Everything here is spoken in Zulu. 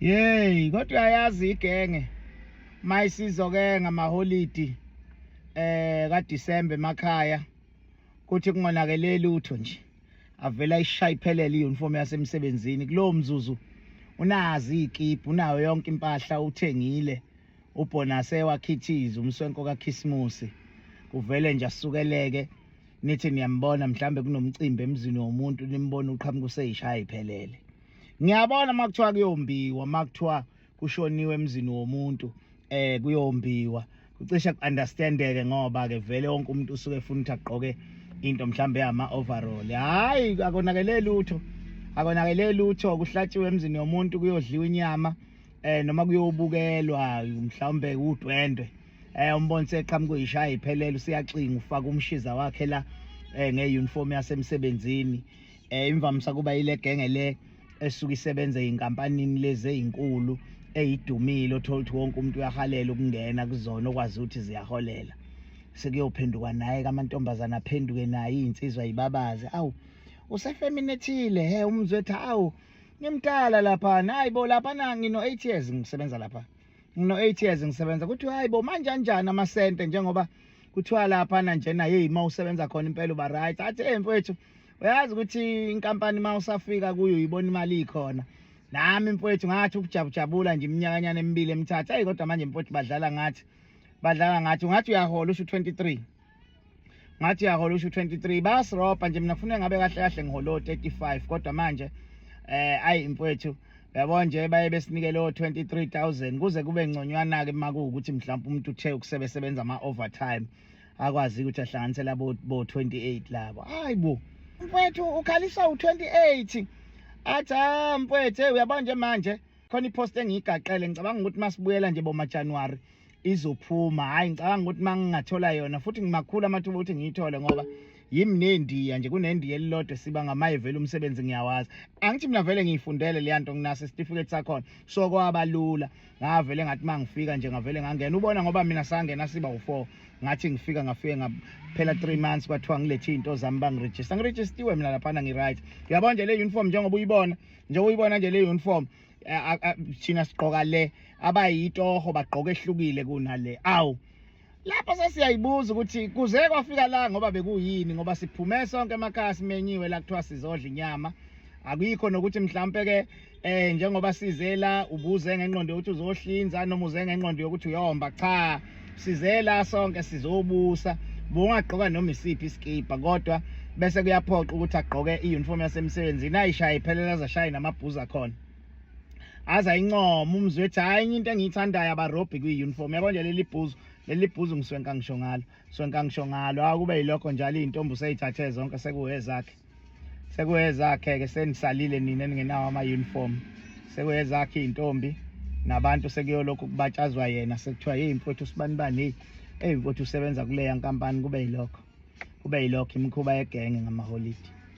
Yey kodwa uyayazi igenge mayisizo ke ngamaholidi eh ka December emakhaya kuthi kungonakele lutho nje avela ishaya iphelele iuniform yasemsebenzini kulowo mzuzu unazi ikiphu unayo yonke impahla uthengile ubhonase wakhithiza umswenko kakhisimusi kuvele nje asukeleke nithi niyambona mhlambe kunomcimbi emzini womuntu nimbona uqhamuka useyishaya iphelele ngiyabona uma kuthiwa kuyombiwa uma kuthiwa kushoniwe emzini womuntu eh kuyombiwa kucishe ku-understandeke ngoba-ke vele wonke umuntu usuke efuna ukuthi agqoke into mhlawumbe yama-overall hhayi akonakele lutho akonakele lutho kuhlatshiwe emzini yomuntu kuyodliwa inyama eh noma kuyobukelwa mhlawumbe udwendwe eh umbonise eqhamuka uyishaya iphelele usiyaxinga ufaka umshiza wakhe la eh ngeuniform yasemsebenzini eh imvamisa kuba ile genge le esuke isebenza eyinkampanini lezi ezinkulu eyidumile othola ukuthi wonke umuntu uyahalela ukungena kuzona okwazi ukuthi ziyaholela sekuyophenduka naye kamantombazana aphenduke naye izinsizwa yibabaze awu usefeminethile he umzwethu awu ngimdala lapha hayi bo lapha na ngino 8 years ngisebenza lapha ngino 8 years ngisebenza kuthiwa hayi bo manje anjani amasente njengoba kuthiwa lapha na njena hey uma usebenza khona impela uba right athi hey mfowethu uyazi ukuthi inkampani uma usafika kuyo uyibona imali ikhona nami mfowethu ngathi ukujabujabula nje iminyakanyana emibili emithathu ayi kodwa manje mfowethu badlala ngathi badlala ngathi ungathi uyahola usho 23 ngathi uyahola usho 23 bayasirobha nje mina kufuneka ngabe kahle kahle ngiholo 35 kodwa manje eh ayi mfowethu yabo nje baye besinikele o 23000 kuze kube ngconywana ke makuwukuthi mhlawumbe umuntu uthe ukusebenza ama overtime akwazi ukuthi ahlanganisela bo 28 labo hayi bo mfwethu ukhalisa u28 athi ah mfwethu uyabona nje manje khona ipost engiyigaqele ngicabanga ukuthi masibuyela nje boma January izophuma hayi ngicabanga ukuthi mangingathola yona futhi ngimakhulu amathuba ukuthi ngiyithole ngoba yimi nendiya nje kunendiya elilodwa siba ngamayivele umsebenzi ngiyawazi angithi mina vele ngiyifundele leya nto nginaso isitifiketi sakhona so kwabalula ngavele ngathi uma ngifika nje ngavele ngangena ubona ngoba mina sangena siba u-four ngathi ngifika ngafike ngaphela three months kwathiwa ngilethe iy'nto zami bangirejista ngirejistiwe mina laphana ngi-right uyabona nje le uniform njengoba uyibona njengoba uyibona nje le uniform eh, thina sigqoka le abayitoho bagqoka ehlukile kunale awu Lapho sesiyayibuza ukuthi kuze kwafika la ngoba bekuyini ngoba siphume sonke emakhaya simenyiwe la kuthiwa sizodla inyama akuyikho nokuthi mhlampe ke eh njengoba sizela ubuze ngenqondo yokuthi uzohlinza noma uze ngenqondo yokuthi uyomba cha sizela sonke sizobusa bungagqoka noma isiphi iskipa kodwa bese kuyaphoqa ukuthi agqoke i-uniform yasemsebenzini ayishaye iphelela zashaya namabhuza khona aza incoma umzwethu hayi enye into engiyithandayo abarobhi kwi-uniform yabo nje leli bhuzu leli bhuzu ngiswenka ngisho ngalo swenka ngisho ngalo awu kube yilokho njalo iy'ntombi useyithathe zonke sekuwezakhe sekuwezakhe-ke senisalile nina ningenawo ama-uniform sekuwezakhe iy'ntombi nabantu sekuyolokhu kubatshazwa yena sekuthiwa yeyi mfowethu usibanibani heyi eyi mfowethu usebenza kuleya nkampani kube yilokho kube yilokho imikhuba yegenge ngamaholidi